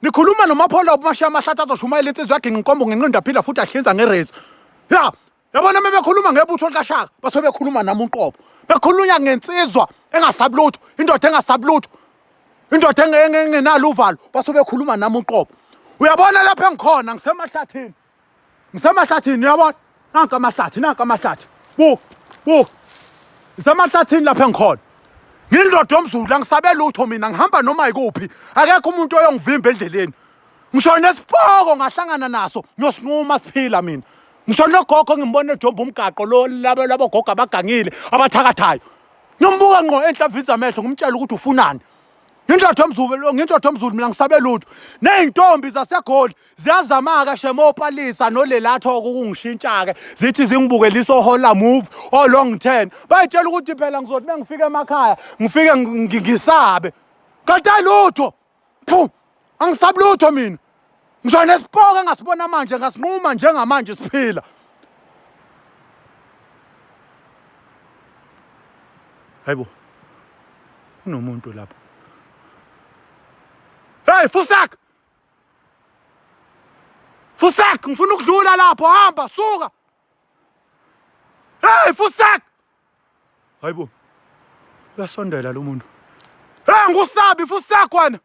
nikhuluma nomaphola umashiya amahlathi azoshumayela insizwa yagingqa inkombo ngenqindi aphila futhi ahlinza ngerezi ya yabona uma bekhuluma ngebutho likashaka base bekhuluma nami unqobo bekhulunya ngensizwa engasabi lutho indoda engasabi lutho indoda engenalo uvalo base bekhuluma nami unqobo uyabona lapho engikhona ngisemahlathini ngisemahlathini uyabona nanka amahlathi nanka amahlathi bu bu ngisemahlathini lapha engikhona ngindoda yomzulu angisabe lutho mina ngihamba noma yikuphi akekho umuntu oyongivimba endleleni ngisho nesipoko ngahlangana naso ngiyosinquma siphila mina ngisho nogogo ngimbona ejomba umgaqo lo labo labogogo abagangile abathakathayo nombuka ngqo enhlamvini zamehlo ngimtshela ukuthi ufunani Ngintotho mzulu ngintotho mzulu mina ngisabe lutho nezintombi zasegoli ziyazamaka shemopalisa nolelatho ukungishintsha ke zithi zingibuke liso hola move o long term bayitshela ukuthi phela ngizothi mengifika emakhaya ngifike ngisabe kanti ayilutho phu angisabi lutho mina ngisho nesipoke engasibona manje ngasinquma njengamanje siphila hayibo kunomuntu lapho hey fusak fusak ngifuna ukudlula lapho hamba suka hey fusak hayibo uyasondela lo muntu hey ngusabi fusak wena